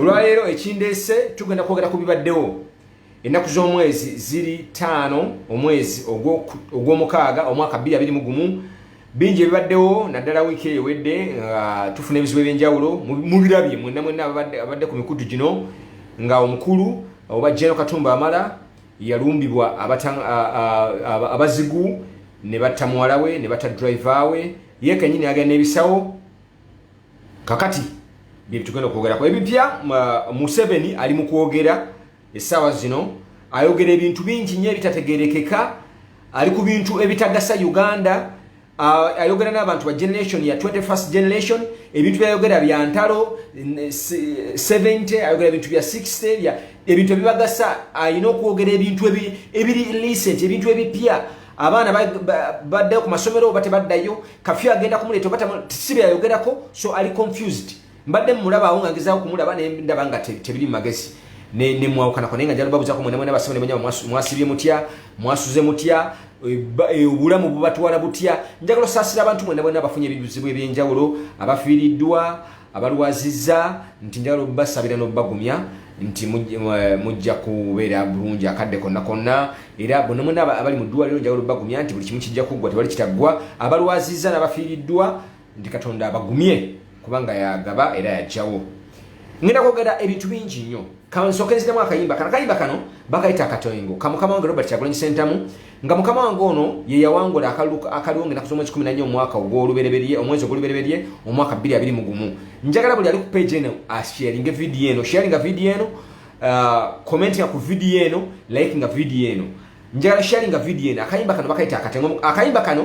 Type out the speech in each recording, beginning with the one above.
olwaleero ekindeese tugenda kwogera ku bibaddewo ennaku z'omwezi ziri ttaano omwezi ogw'omukaaga omwaka bbiri abiri mu gumu bingi ebibaddewo naddala wiiki eyo wedde nga tufuna ebizibu ebyenjawulo mubirabye mwena mwena abadde ku mikutu gino nga omukulu oba jeno katumba amala yalumbibwa abazigu ne batta muwala we ne batta driver we ye kenyini agenda ebisawo kakati byebitugenda okwogerako ebipya uh, museveni ali mu kwogera essaawa zino ayogera ebintu bingi nyo ebitategerekeka ali ku bintu ebitagasa uganda uh, ayogera n'abantu ba generation ya 21st generation ebintu byayogera bya ntalo 70 ayogera ebintu bya 60 bya ebintu ebibagasa alina okwogera ebintu ebiri recent ebintu ebipya abaana baddayo ku masomero oba tebaddayo kafyu agenda kumuleeta oba sibe yayogerako so ali confused mbadde mumulabawo nga ngezaako kumulaba nendaba nga tebiri mu magezi nemwawukanako naye nga njala babuzaako mwena mwena basome nemanya mwasibye mutya mwasuze mutya e, e, obulamu bubatwala butya njagala osaasira abantu mwena mwena abafunye ebizibu ebyenjawulo abafiiriddwa abalwazizza nti njagala obbasabira n'obbagumya nti eh, mujja kubeera bulungi akadde konna konna era bonna mwena abali mu ddwaliro njagala obbagumya nti buli kimu kijja kuggwa tewali kitaggwa abalwazizza n'abafiiriddwa nti katonda abagumye kubanga yagaba era yajjawo ngenda kwogera ebintu bingi nnyo kansooke nziramu akayimba kano akayimba kano bakayita akatoyingo kamukama wange robert kyagulanyi sentamu nga mukama wange ono ye yawangula akalulu akaliwo ngenaku z'omwezi kumi nanya omwaka ogw'olubereberye omwezi ogw'olubereberye omwaka bbiri abiri mu gumu njagala buli ali ku page eno asharinge vidiyo eno sharinga vidiyo eno uh, commentinga ku vidiyo eno likinga vidiyo eno njagala sharinga vidiyo eno akayimba kano bakayita akatengo akayimba kano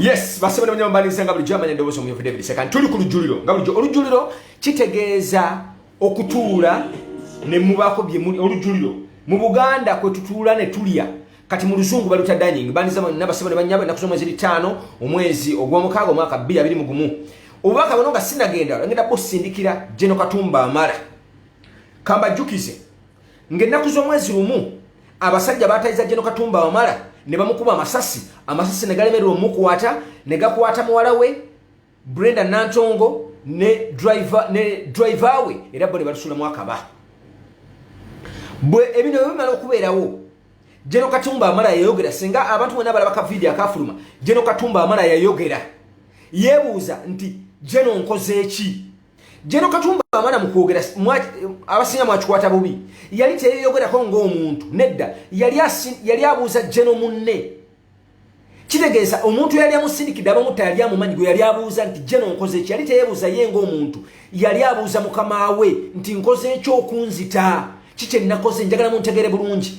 yes basabana banyama balinze nga bulijjo amanya eddoboozi omuyufu david sekani tuli ku lujjuliro nga bulijjo olujjuliro kitegeeza okutuula ne mubaako byemuli olujjuliro mu buganda kwe tutuula ne tulya kati mu luzungu baluta dining bandiza bonna basaba ne banyabo ennaku z'omwezi bitaano omwezi ogw'omukaaga omwaka bbiri abiri mu gumu obubaka buno nga sinagenda ngenda busindikira geno katumba amala kambajjukize Ng'ennaku z'omwezi lumu abasajja baatayiza Jeno Katumba Wamala ne bamukuba amasasi amasasi ne galemererwa omukwata ne gakwata muwala we Brenda Nantongo ne driver ne driver we era bo ne batusulamu akaba bwe ebino bwe bimala okubeerawo Jeno Katumba Wamala yayogera singa abantu bonna balaba ka vidiyo akafuluma Jeno Katumba Wamala yayogera yeebuuza nti Jeno nkoze ki Jeno Katumba amana mu kwogera abasinga mwakikwata bubi yali teyeyogerako ng'omuntu nedda yali abuuza Jeno munne kitegeeza omuntu yali amusindikidde abamutta yali amumanyi gwe yali abuuza nti Jeno nkoze eki yali teyebuuza ye ng'omuntu yali abuuza mukama we nti nkoze ekyokunzita ki kye nnakoze njagala muntegere bulungi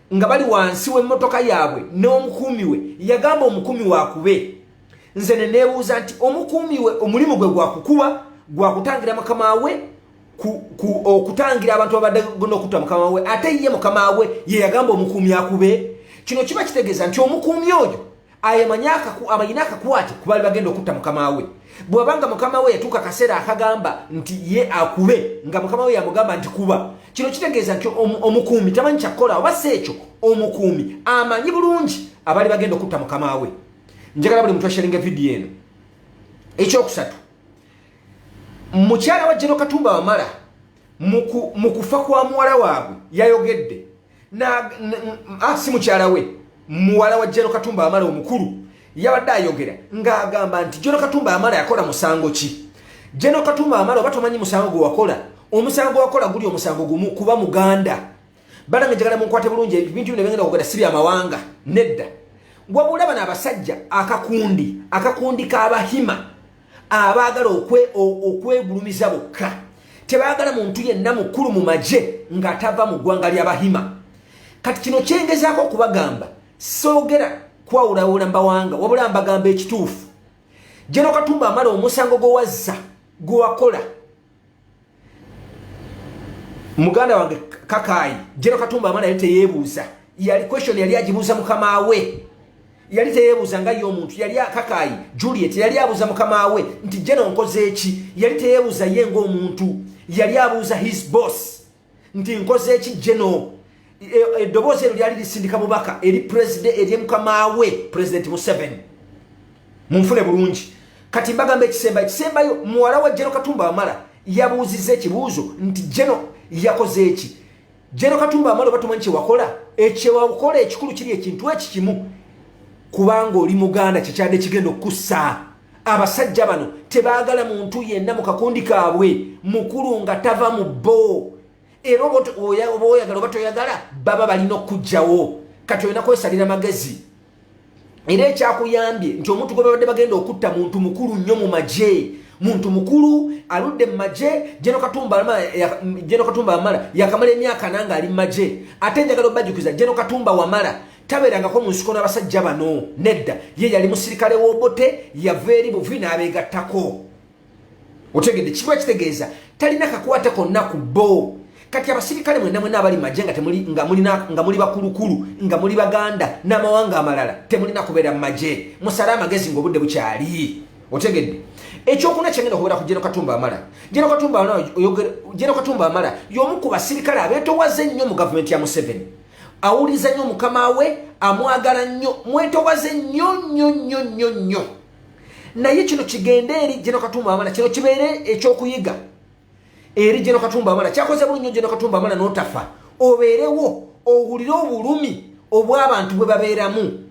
nga bali wansi w'emmotoka yaabwe n'omukuumi we yagamba omukuumi wakube nze ne neebuuza nti omukuumi we omulimu gwe gwakukuba gwakutangira mukama we okutangira abantu babadde gona okutta mukama we ate ye mukama we ye yagamba omukuumi akube kino kiba kitegeeza nti omukuumi oyo abayina akakwate kubaali bagenda okutta mukama we bwabanga mukama we yatuuka akaseera akagamba nti ye akube nga mukama we yamugamba nti kuba kino kitegeeza nti omukuumi tamanyi kyakukola oba si ekyo omukuumi amanyi bulungi abaali bagenda okutta mukama we njagala buli muntu asharinga vidiyo eno ekyokusatu mukyala wa jeno katumba wamala mu kufa kwa muwala waabwe yayogedde na ah, si mukyala we muwala wa jero katumba amala omukulu yabadde ayogera ng'agamba nti jero katumba amala yakola musango ki jero katumba amala oba tomanyi musango gwe wakola omusango wakola guli omusango gumu kuba muganda banange njagala munkwate bulungi ebintu bino byengenda kugenda si byamawanga nedda wabula bano abasajja akakundi akakundi k'abahima abaagala okwegulumiza bokka tebaagala muntu yenna mukulu mu magye ng'atava mu ggwanga ly'abahima kati kino kyengezaako okubagamba soogera kwawulawula mbawanga wabula mbagamba ekituufu jeno katumba amala omusango gwewazza gwewakola muganda wange kakaayi jero katumba amala yali teyeebuuza yali question yali agibuuza mukama we yali teyeebuuza nga ye omuntu yali akakaayi juliet yali abuuza mukama we nti jeno nkoze eki yali teyeebuuza ye ngaomuntu yali abuuza his boss nti nkoze eki general eddoboozi e, eryo lyali lisindika bubaka eri president eri mukamaawe president museveni munfune bulungi kati mbagamba ekisemba ekisembayo muwala wa jeno katumba wamala yabuuziza ekibuuzo nti jeno yakoze eki jeno katumba wamala oba tumanyi kyewakola ekyewakola ekikulu kiri ekintu eki kimu kubanga oli muganda kyekyadde kigenda okukusaa abasajja bano tebaagala muntu yenna mu kakundi kaabwe mukulu nga tava mu bbo era oba oyagala oba toyagala baba balina okukugjawo kati olina kwesalira magezi era ekyakuyambye nti omuntu gwe babadde bagenda okutta muntu mukulu nnyo mu magye muntu mukulu aludde mu magye jeno katumba wamala yakamala emyaka nanga ali mu magye ate njagala obajukiza jeno katumba wamala tabeerangako mu nsiko n'abasajja bano nedda ye yali musirikale w'obote yava eri buvi n'abeegattako otegedde kiba kitegeeza talina kakwate konna ku bo kati abasirikale mwena mwena abali maje nga temuli nga mulina nga muli bakulukulu nga muli baganda n'amawanga amalala temulina kubeera mu maje musale amagezi ng'obudde bukyali otegedde ekyokuna kyengenda okubeera ku jeno katumba amala jeno katumba amala jeno katumba amala y'omu ku basirikale abeetowaze ennyo mu gavumenti ya museveni awuliza nnyo mukama we amwagala nnyo mwetowaze nnyo nnyo nnyo nnyo nnyo naye kino kigende eri jeno katumba amala kino kibeere ekyokuyiga eri jeno katumba amala kyakoze bulu nnyo jeno katumba amala notafa obeerewo owulire obulumi obw'abantu bwe babeeramu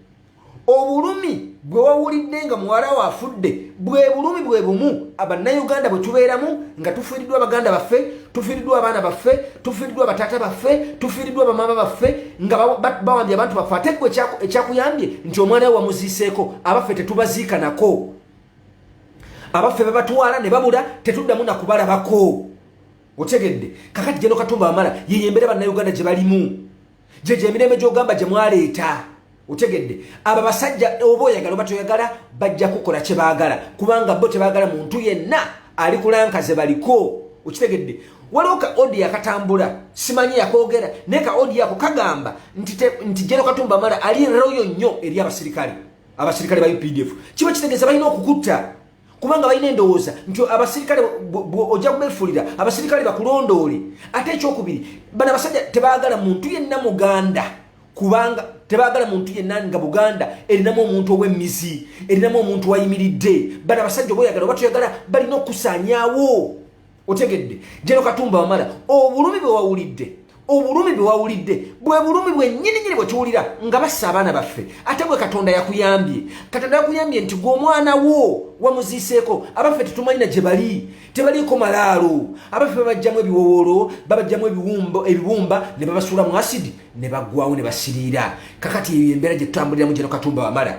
obulumi bwe wawulidde nga muwala wo afudde bwe bulumi bwe bumu abannayuganda bwe tubeeramu nga tufiiriddwa abaganda baffe tufiiriddwa abaana baffe tufiiriddwa abataata baffe tufiiriddwa abamaama baffe nga bawambye abantu baffe ate gwe ekyakuyambye nti omwana we wamuziiseeko abaffe tetubaziika nako abaffe bebatwala ne babula tetuddamu nakubalabako otegedde kakati geno katumba wamala yeyembere bannayuganda gye balimu gye gye emirembe gy'ogamba gye mwaleeta otegedde abo basajja oba oyagala oba toyagala bajja kukola kye baagala kubanga bo tebaagala muntu yenna ali kulanka ze baliko okitegedde waliwo ka odi akatambula simanyi yakoogera naye ka odi ako kagamba nti jero katumba mala ali royo nnyo eri abasirikale abasirikale ba updf kiba kitegeeza balina okukutta kubanga balina endowooza nti abasirikale ojja kubefuulira abasirikale bakulondoole ate ekyokubiri bana abasajja tebagala muntu yenna muganda kubanga tebagala muntu yenna nga buganda erinamu omuntu ow'emizi erinamu omuntu wayimiridde bana abasajja oba oyagala oba toyagala balina okusanyawo otegedde jeno katumba wamala obulumi bwe wawulidde obulumi bwe wawulidde bwe bulumi bwennyini nyini bwe tuwulira nga bassa abaana baffe ate bwe katonda yakuyambye katonda yakuyambye nti gwe omwana wo wamuziiseeko abaffe tetumanyina gye bali tebaliiko malaalo abaffe babajjamu ebiwowolo babajjamu ebibumba ne babasuula mu asidi ne baggwawo ne basiriira kakati eyo embeera gye tutambuliramu jeno katumba wamala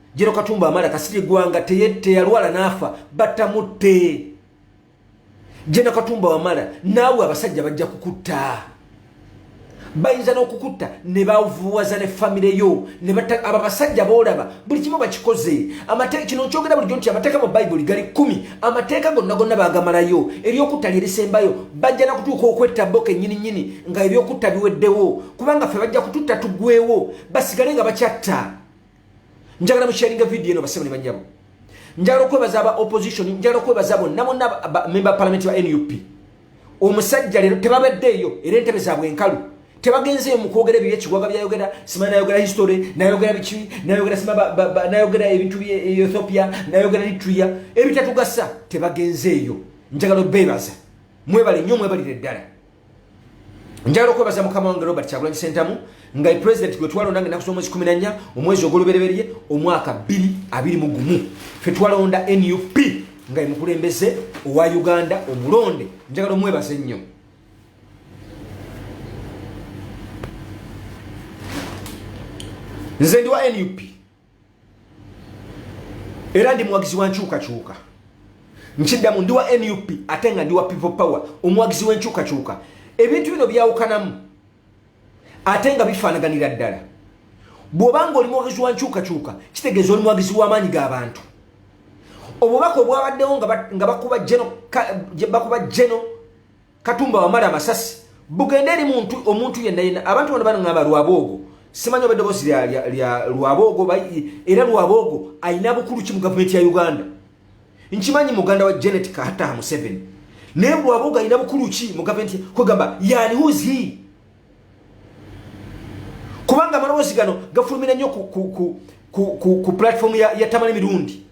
Jero Katumba Amala Kasirye Gwanga teyalwala n'afa batamutte. Jero Katumba Wamala naawe abasajja bajja kukutta. Bayinza n'okukutta ne bavuwaza ne famire yo ne batta abo abasajja boolaba buli kimu bakikoze amateeka kino nkyogera bulijjo nti amateeka mu bayibuli gali kkumi amateeka gonna gonna baagamalayo eryokutta lye lisembayo bajja na kutuuka okwetta bo kennyini nnyini nga ebyokutta biweddewo kubanga ffe bajja kututta tugwewo basigale nga bakyatta njagala musharinga video eno basebo ne banyabo njagala okwebaza aba opposition njagala okwebaza bonna bonna member parliament wa nup omusajja leero tebabaddeeyo era entebe zaabwe enkalu tebagenzeeyo mu kwogera ebyo ekiwaga byayogera sima nayogera history nayogera biki nayogera sima nayogera ebintu bye ethiopia nayogera litria ebitatugasa tebagenzeeyo njagala obeebaza mwebale nnyo mwebalire ddala njagala okwebaza mukama wange robert kyagulanyi sentamu nga president gwe twalonda nga enaku z'omwezi kumi nanya omwezi ogw'olubereberye omwaka bbiri abiri mu gumu fe twalonda nup nga emukulembeze owa uganda omulonde njagala omwebaza ennyo nze ndi wa nup era ndi muwagizi wa nkyukakyuka nkiddamu ndi wa nup ate nga ndi wa people power omuwagizi w'enkyukakyuka ebintu bino byawukanamu ate nga bifaanaganira ddala bw'oba nga oli muwagizi wa nkyukakyuka kitegeeza oli muwagizi w'amaanyi g'abantu obubaka obwabaddewo nga bakuba geno katumba wamala amasasi bugende eri muntu omuntu yenna yenna abantu bano banangamba lwaboogo simanyi oba eddoboosi lya lwaboogo era lwaboogo alina bukulu ki mu gavumenti ya uganda nkimanyi muganda wa janet kataha museveni naye lwaboogo alina bukulu ki mu gavumenti kwegamba yani huzi kubanga amaloboozi gano gafulumira nnyo ku, ku, ku, ku, ku, ku platform ya, ya tamale mirundi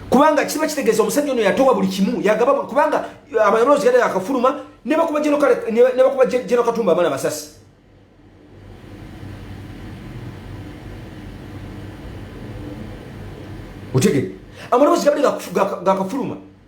kubanga kiba kitegeeza omusajja ono yatowa buli kimu yagaba kubanga uh, amaloboozi gada akafuluma nebakuba jeno katumba abaana basasi otegere amaloboozi gabade gakafuluma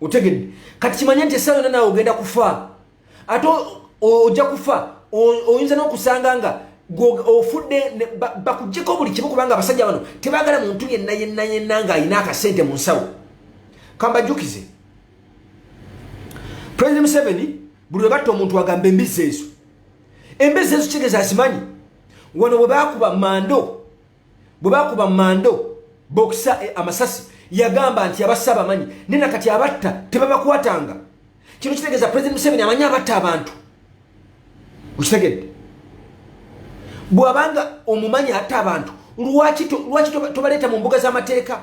otegedde kati kimanye nti esaala yona naawe ogenda kufa ate ojja kufa oyinza n'okusanga nga ofudde bakujjeko buli kimu kubanga abasajja bano tebagala muntu yenna yenna yenna ng'alina akasente mu nsawo kambajjukize president museveni buli lwe batta omuntu agamba embizzi ezo embizzi ezo kitegeeza azimanyi wano bwe bakuba mando bwe bakuba mando bokisa eh, amasasi yagamba nti abassa abamanyi naye na kati abatta tebabakwatanga kino kitegeeza president museveni amanyi abatta abantu okitegedde bwabanga omumanyi atta abantu lwaki tobaleeta mu mbuga z'amateeka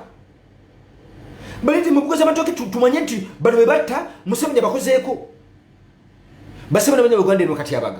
baleete mu mbuga z'amatooke tumanye nti bano be batta museveni abakozeeko basebana banya uganda eno kati abaga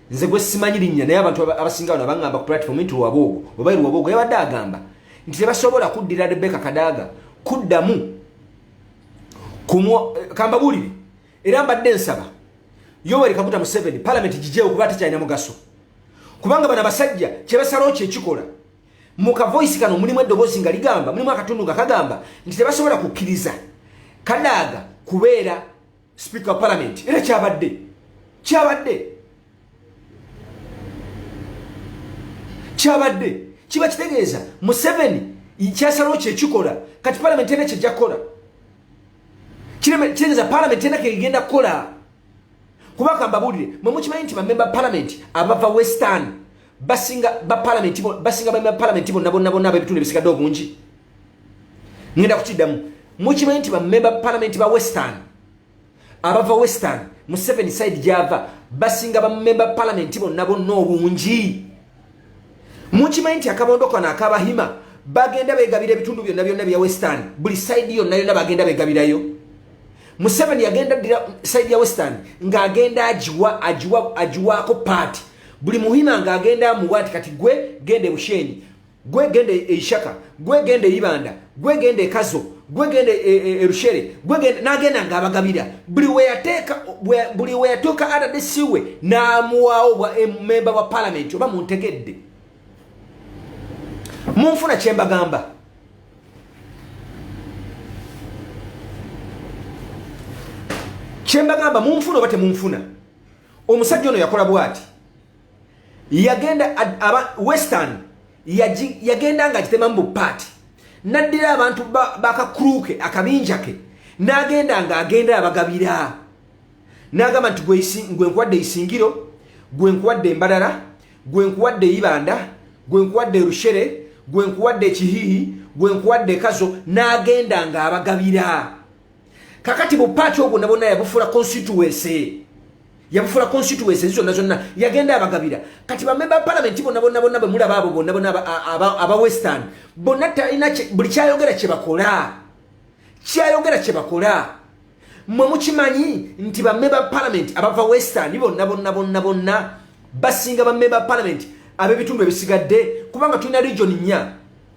nze gwe simanyi linnya naye abantu abasinga bano abangamba ku platform nti lwaboogo oba lwaboogo yabadde agamba nti tebasobola kuddira rebeka kadaaga kuddamu kambabuulire era mbadde nsaba yoweri kaguta museveni palamenti gijewo kuba tekyalina mugaso kubanga bano abasajja kyebasalawo kyekikola mu kavoisi kano mulimu eddoboozi nga ligamba mulimu akatundu nga kagamba nti tebasobola kukkiriza kadaaga kubeera Speaker of Parliament era kyabadde kyabadde kyabadde kiba kitegeeza Museveni kyasalawo kyekikola kati Parliament era kyejja kukola kitegeeza Parliament era kegenda kukola kuba kambabuulire mwe mukimanyi nti bamemba Parliament abava Western basinga ba palamenti basinga ba palamenti bonna bonna bonna abebitundu ebisigadde obungi ngenda kukiddamu mukimanyi nti bamemba palamenti ba western abava western mu seven side gyava basinga bamemba palamenti bonna bonna obungi mukimanyi nti akabondo kano akabahima bagenda begabira ebitundu byonna byonna bya western buli side yonna yonna bagenda begabirayo museveni yagenda dira side ya western ng'agenda agiwa agiwa agiwaako paati buli muhima nga agenda amuwa nti kati gwe genda ebushenyi gwe genda eishaka gwe genda eibanda gwe genda ekazo gwe genda e, e, erushere gwe genda nagenda nga abagabira buli weyateeka buli weyatuuka adadesiwe n'amuwaawo bwa memba wa palamenti oba muntegedde munfuna kyembagamba kyembagamba munfuna oba temunfuna omusajja ono yakola bwati yagenda aba western yagenda nga agitemamu bupaati naddira abantu bakakruke akabinja ke n'agenda nga agenda abagabira n'agamba nti gwe nkuwadde isingiro gwe nkuwadde embalala gwe nkuwadde ibanda gwe nkuwadde rushere gwe nkuwadde ekihihi gwe nkuwadde ekazo n'agenda nga abagabira kakati bupaati ogwo nabona yabufula constituency yabufula constituency zonna zonna yagenda abagabira kati bamemba palamenti bonna bonna bonna bemulaba abo bonna bonna aba western bonna talina buli kyayogera kyebakola kyayogera kyebakola mwe mukimanyi nti bamemba palamenti abava western bonna bonna bonna bonna basinga bamemba palamenti abebitundu ebisigadde kubanga tulina region nnya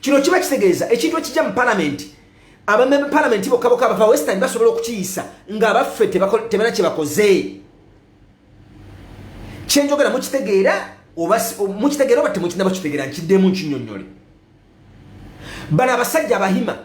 kino kiba kitegeeza ekintu ekijja mu palamenti abamemba palamenti bokka bokka abava western basobola okukiyisa ng'abaffe tebana kye bakoze kyenjogera mukitegeera mukitegeera oba temukinaba kitegeera nkiddemu nkinyonnyole bano abasajja abahima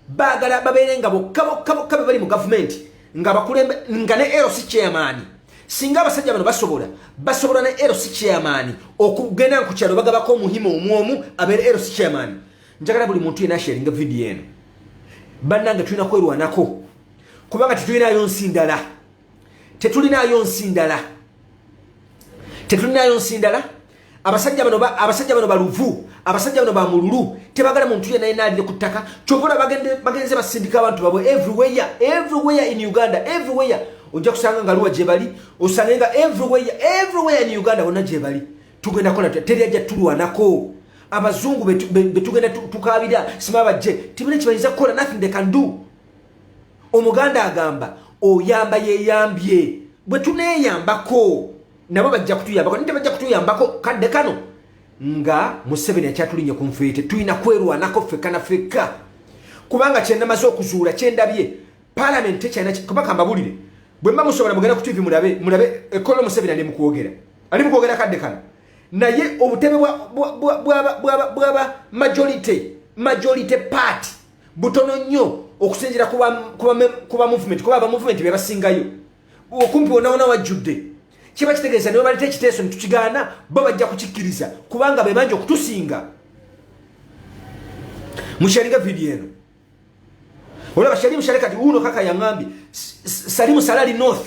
baagala babeere nga bokka bokka bokka bebali mu gavumenti nga bakulembe nga ne ero si chairman singa abasajja bano basobola basobola ne ero si chairman okugenda ku kyalo bagabako omuhima omwomu abeere ero si chairman njagala buli muntu yena sharinga video eno bannange tulina kwerwanako kubanga tetulinayo nsi ndala tetulinaayo nsi ndala tetulinaayo nsi ndala abasajja bano abasajja bano baluvu abasajja bano bamululu tebagala muntu yena yena alire ku ttaka kyovola bagenze basindika abantu babwe everywhere everywhere in uganda everywhere ojja kusanga nga luwa gyebali osange nga everywhere everywhere in uganda wonna gyebali tugenda kola teri ajja tulwanako abazungu betugenda tukabira sima bajje tibina kyebayinza kukola nothing they can do omuganda agamba oyamba yeyambye bwe tuneyambako nabo bajja kutuyambako nite bajja kutuyambako kadde kano nga museveni akyatulinye ku nfeete tulina kwerwanako fekka na fekka kubanga kyenamaze okuzuula kyendabye palamenti tekyalina kuba kambabulire bwe mba musobola mugenda ku tivi mulabe mulabe ekkola omuseveni ali mukwogera ali mukwogera kadde kano naye obutebe bwa majority majority party butono nnyo okusinzira kuba movement kuba aba movement bebasingayo okumpi wonawona wajjudde kiba kitegeeza niwe baleta ekiteeso netukigaana bo bajja kukikkiriza kubanga bebanja okutusinga mukyalinga vidiyo eno olaba shalimu shale kati uno kaka yangambye salimu salali north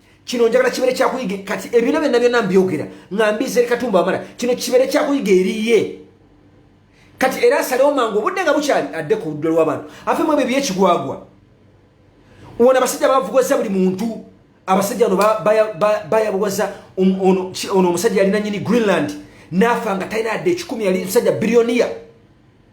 kino njagala kibere kyakuyiga kati ebino byonna byonna mbyogera nga mbiza eri katumba wamala kino kibere kyakuyiga eriye kati era asalewo mangu obudde nga bukyali adde ku ludda lw'abantu afe mu ebyo byekigwagwa wona abasajja bavugoza buli muntu abasajja ono bayabuwaza um, ono omusajja yalina nyini greenland naafa nga talina yadde ekikumi yali musajja biriyoniya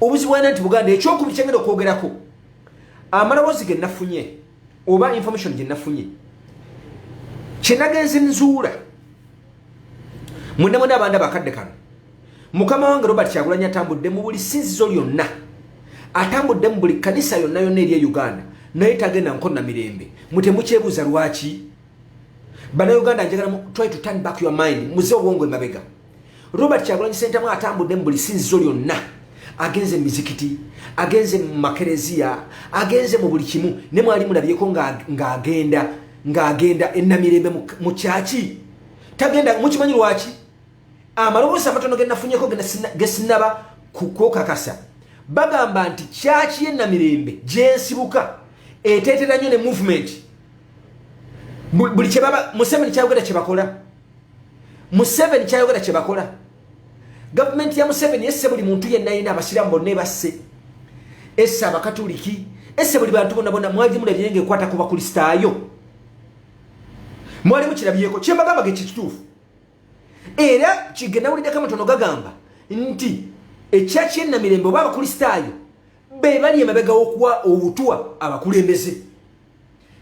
obuzibu alina nti buganda ekyokubiri kyengenda okwogerako amaloboozi ge nafunye oba information gye nafunye kyenagenzi nzuula mwenamwena abanda bakadde kano mukama wange robert kyagulanya atambudde mu buli sinzizo lyonna atambudde mu buli kanisa yonna yonna eri e uganda naye tagenda nkonna mirembe mutemukyebuuza lwaki banauganda njagala try to turn back your mind muze obwongo emabega Robert Kyagulanyi Ssentamu atambudde mu buli sinzizo lyonna agenze mu mizikiti agenze mu makereziya agenze mu buli kimu ne mwali mulabyeko ng'agenda ng'agenda enamirembe mu kyaki tagenda mukimanyi lwaki amaloboozi amatono genafunyeko gesinaba kukokakasa bagamba nti kyaki yenamirembe gyensibuka eteetera nnyo ne movement buli kyebaba museveni kyayogera kyebakola museveni kyayogera kyebakola gavumenti ya museveni esse buli muntu yenna yina abasiramu bonna ebasse esse abakatuliki esse buli bantu bona bona mwali mulabye nga ekwata ku bakulisitaayo mwali mukirabyeko kyembagamba ge kikituufu era kigenawulideko amatono gagamba nti ekyaki enamirembe oba abakulisitaayo be bali emabega okuwa obutwa abakulembeze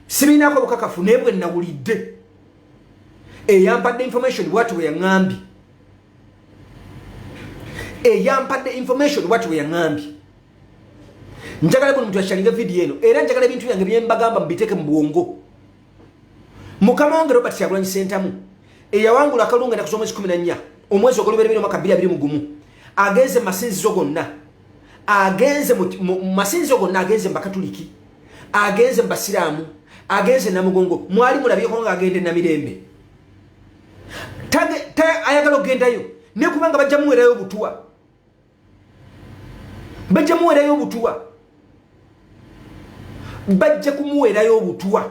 sibiinaako bukakafu naye bwe nawulidde eyampadde information bwati bwe yaŋambye eyampadde information bwati bwe yaŋambye njagala buli muntu yakyalinga vidiyo eno era njagala ebintu byange byembagamba mubiteeke mu bwongo mukama wange robert kyagulanyi sentamu eyawangula akalunga enaku z'omwezi kumi na nnya omwezi ogoluberebera omwaka bbiri abiri mugumu agenze mu masinzizo gonna agenze mu masinzizo gonna agenze mu bakatuliki agenze mu basiraamu agenze namugongo mwali mulabyeko nga agenda enamirembe ayagala okugendayo naye kubanga bajja muwerayo obutuwa bajja muwerayo obutuwa bajja kumuwerayo obutuwa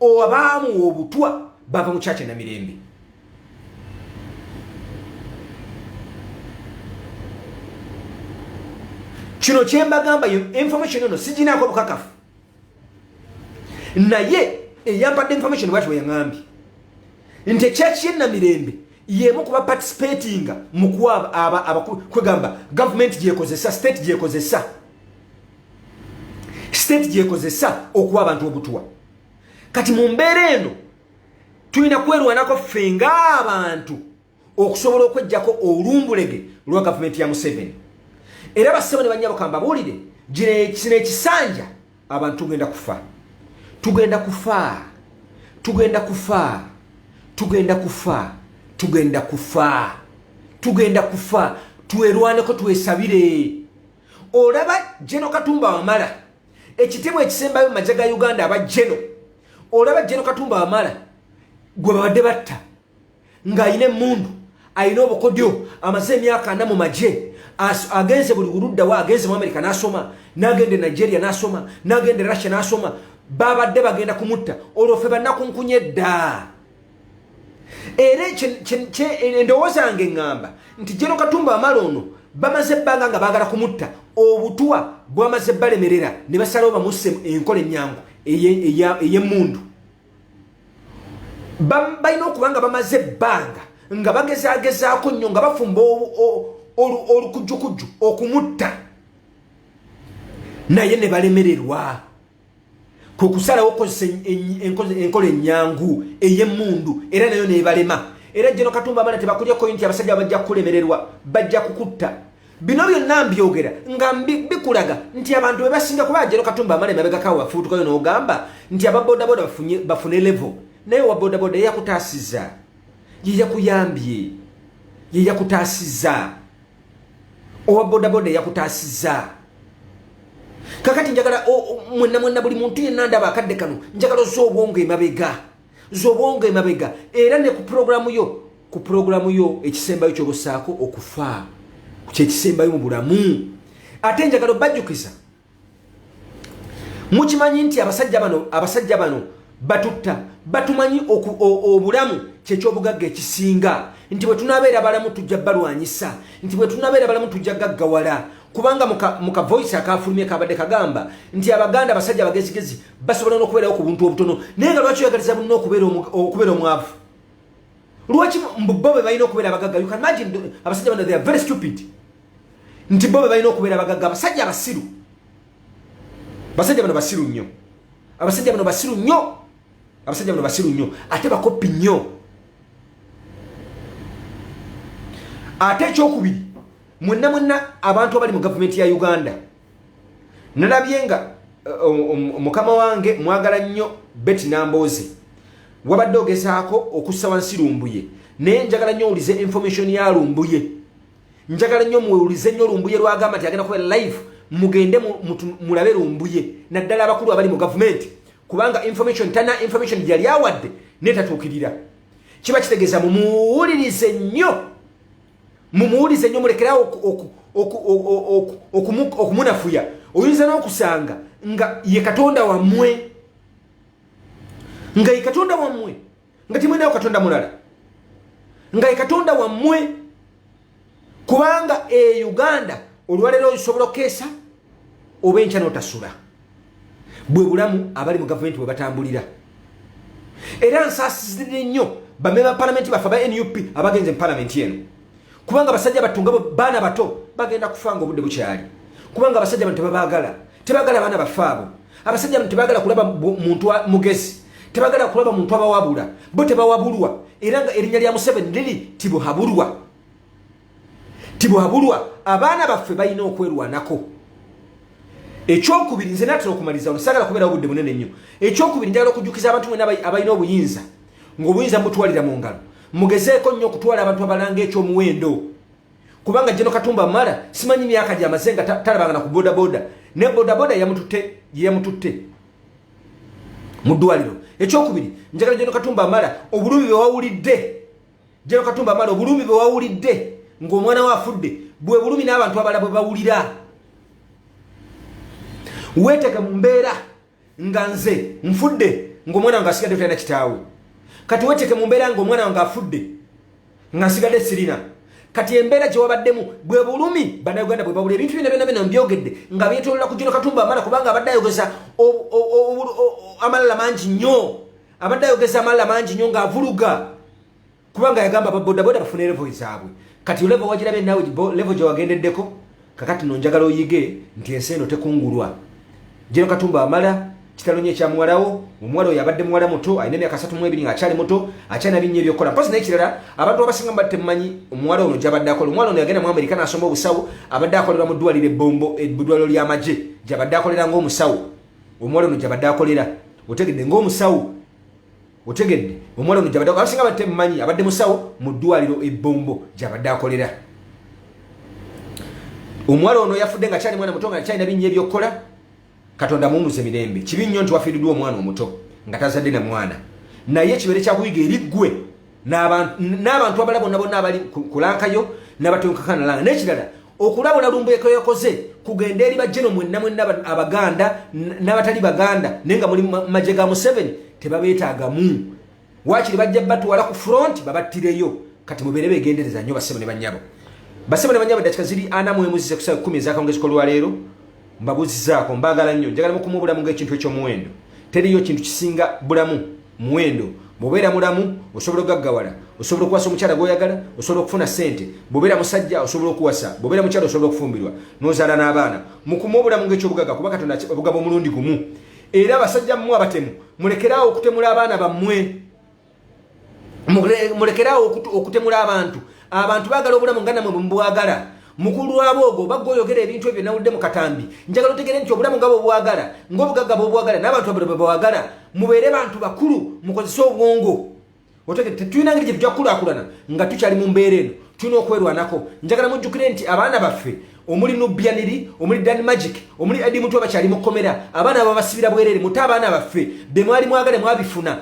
owa baamuwa obutwa bava mu kyakye na mirembe kino kyembagamba information eno siginaako bukakafu naye eyampadde information bwati weyaŋambye nti ekyaki yenamirembe yemu kuba participatinga mukwaba kwegamba gavumenti gyekozesa state gyekozesa state gyekozesa okuwa abantu obutwa kati mu mbeera eno tulina kwerwanako ffe ng'abantu okusobola okwejjako olumbulege lwa gavumenti ya museveni era bassebo ne bannyabo kambabuulire kino ekisanja abantu tugenda kufa tugenda kufa tugenda kufa tugenda kufa tugenda kufa tugenda kufa twerwaneko twesabire olaba jeno katumba wamala ekitibwa ekisembayo mu maja ga uganda aba jeno olaba jeno katumba wamala gwe babadde batta ng'alina emundu alina obukodyo amaze emyaka ana mu magye agenze buli buluddawo agenze mu amerika n'asoma n'agenda e nigeria n'asoma n'agenda e russia n'asoma babadde bagenda kumutta olwo ffe bannakunkunye ddaa era endowooza yange ŋŋamba nti jeno katumba amala ono bamaze ebbanga nga baagala kumutta obutwa bwamaze balemerera ne basalawo bamusse enkola ennyangu ey'emmundu balina okuba nga bamaze ebbanga nga bagezagezaako nnyo nga bafumba olukujjukujju okumutta naye ne balemererwa kwe kusalawo okukozesa enkola ennyangu ey'emmundu era nayo neebalema era jeno katumba abaana tebakulyeko nti abasajja bajja kukulemererwa bajja kukutta bino byonna mbyogera nga bikulaga nti abantu bebasinga kuba jeno katumba amala emabegakawo bafuutukayo n'ogamba nti ababodaboda bafune levo naye owa bodaboda yeyakutaasiza yeyakuyambye yeyakutaasiza owa bodaboda eyakutaasizza kakati njagala mwenna mwenna buli muntu yenna ndaba akadde kano njagala oza obwongo emabega zobwongo emabega era ne ku pulogulaamu yo ku pulogulaamu yo ekisembayo kyobusaako okufa kyekisembayo mu bulamu ate njagala obajjukiza mukimanyi nti abasajja bano abasajja bano batutta batumanyi obulamu kyekyobugagga ekisinga nti bwe tunabeera balamu tujja balwanyisa nti bwe tunabeera balamu tujja gaggawala kubanga mu kavoice akafulumye kabadde kagamba nti abaganda abasajja abagezigezi basobola n'okubeerawo ku buntu obutono naye nga lwaki oyagaliza bunna okubeera omwavu lwaki mbubo be balina okubeera abagagga abasajja bano they are very stupid nti bo bebalina okubeera abagagga abasajja abasiru basajja bano basiru nnyo abasajja bano basiru nnyo abasajja bano basiru nnyo ate bakoppi nnyo ate ekyokubiri mwenna mwenna abantu abali mu gavumenti ya uganda nalabye nga eh, mukama wange mwagala nnyo beti namboozi wabadde ogezaako okussa wansi lumbuye naye njagala nnyo owulize information ya lumbuye njagala nnyo muwulize nnyo lumbuye lwagamba nti agenda kubeera live mugende mulabe lumbuye naddala abakulu abali mu gavumenti kubanga information tana information yali awadde netatuukirira kiba kitegeeza mumuwulirize nnyo mumuwulize nnyo mulekerawo okumunafuya oyinza n'okusanga nga ye katonda wammwe nga ye katonda wammwe nga temulinawo katonda mulala nga ekatonda wammwe kubanga e uganda olwaleero osobola okukeesa oba enkya notasula bwe bulamu abali mu gavumenti bwe batambulira era nsaasizidde nnyo bamema palamenti baffe aba nup abagenze mu palamenti eno kubanga abasajja battu nga baana bato bagenda kufa nga obudde bukyali kubanga abasajja bantu tebabaagala tebagala abaana baffe abo abasajja bano tebagala kulaba muntu mugezi tebagala kulaba muntu abawabula bo tebawabulwa era nga erinnya lya museveni liri tibuhabulwa tibuhabulwa abaana baffe balina okwerwanako ekyokubiri nze natera okumaliriza ono sagala kubeera obudde bunene nnyo ekyokubiri njagala okujjukiza abantu mwena abalina obuyinza ngaobuyinza mutwalira mu ngalo mugezeeko nnyo okutwala abantu abalanga ekyomuwendo kubanga jeno katumba mala simanyi myaka gyamaze nga talabangana ku bodaboda ne bodaboda yamututte yeyamututte mu ddwaliro ekyokubiri njagala jeno katumba mala obulumi bewawulidde jeno katumba mala obulumi bewawulidde ng'omwana we afudde bwe bulumi n'abantu abala bwe bawulira weeteke mu mbeera nga nze nfudde ngaomwana wange asigadde talina kitaawe kati weteke mu mbeera nga omwana wange afudde nga nsigadde sirina kati embeera gyewabaddemu bwe bulumi banauganda bwebabula ebintu byona byona byona mbyogedde nga byetolola kujino katumba amala kubanga abadde ayogeza amalala mangi nnyo abadde ayogeza amalala mangi nnyo ngaavuluga kubanga yagamba babodaboda bafune levo zaabwe kati levo wagirabye naawe levo gyewagendeddeko kakati no njagala oyige nti ensi eno tekungulwa jero katumba amala kitalo nye kya muwalawo omuwala oyo abadde muwala muto alina emyaka asatu mu ebiri ng'akyali muto akyalina binnya ebyokukola mpozi naye kirala abantu abasinga mubadde temumanyi omuwala ono gyabadde akola omuwala ono yagenda mu amerika n'asoma obusawo abadde akolera mu ddwaliro ebbombo eddwaliro ly'amagye gyabadde akolera ng'omusawo omuwala ono gyabadde akolera otegedde ng'omusawo otegedde omuwala ono gyabadde abasinga batte mumanyi abadde musawo mu ddwaliro ebbombo gyabadde akolera omuwala ono yafudde nga kyali mwana muto nga kyalina binnya ebyokukola katonda muwumuze mirembe kibi nnyo nti wafiiriddwa omwana omuto nga tazadde na mwana naye ekibeere kyakuyiga eri ggwe n'abantu abala bonna bonna abali kulankayo n'abatunkakana langa n'ekirala okulabula lumbuye kwe yakoze kugenda eri bajeno mwenna mwenna abaganda n'abatali baganda naye nga muli maje ga museveni tebabeetaagamu wakiri bajja batwala ku front babattireyo kati mubeere begendereza nnyo basebo ne banyabo basebo ne banyabo dakika ziri ana mwemuzize kusaa kumi ezakawungezi kolwaleero mbabuzizaako mbaagala nnyo njagala mukumuubulamu ngaekintu ekyomuwendo teriyo kintu kisinga bulamu muwendo bwobeera mulamu osobola okugaggawala osobola okuwasa omukyala gwoyagala osobola okufuna sente bwobeera musajja osobola okuwasa bwobeera mukyala osobola okufumbirwa nozaala n'abaana mukuma obulamu ngaekyobugaga kuba katonda obugaba omulundi gumu era abasajja mmwe abatemu mulekeraawo okutemula abaana bammwe mulekeraawo okutemula abantu abantu bagala obulamu nga namwe bwemubwagala mukulu wabo ogwo oba gwoyogera ebintu ebyo nawulidde mu katambi njagala otegere nti obulamu nga bwobwagala ngaobugagga bwobwagala n'abantu abula bwebawagala mubeere bantu bakulu mukozese obwongo otegere tetulina ngeri gye tujja kukulakulana nga tukyali mu mbeera eno tulina okwerwanako njagala mujjukire nti abaana baffe omuli nubyaniri omuli dan magic omuli edi mutwe bakyali mukomera abaana babasibira bwerere mute abaana baffe bemwali mwagale mwabifuna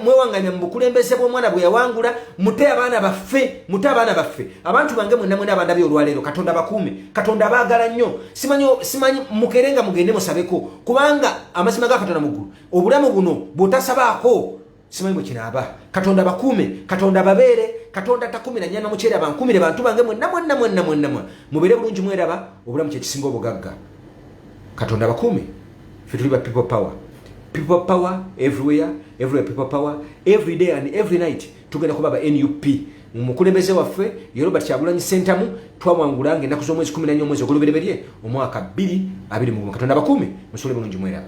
mwewanganya mubukulembeze bwomwana bweyawangula mute abaana baffe mute abaana baffe abantu bange mwena mwena abandabye olwaleero katonda bakuume katonda abaagala nnyo simanyi simanyi mukere nga mugende musabeko kubanga amazima gakatonda muggulu obulamu buno bwotasabaako simanyi bwe kinaaba katonda abakuume katonda ababeere katonda takumira nyama mukyere abankumire bantu bange mwenna mwenna mwenna mwenna mwe mubeere bulungi mweraba obulamu kyekisinga obugagga katonda abakuume fe tuli ba people power people power everywhere everywhere people power every day and every night tugenda kuba ba nup omukulembeze waffe ye robert kyagulanyi sentamu twawangula nga enaku z'omwezi 14 omwezi ogulubereberye omwaka 2 katonda abakuume musole bulungi mweraba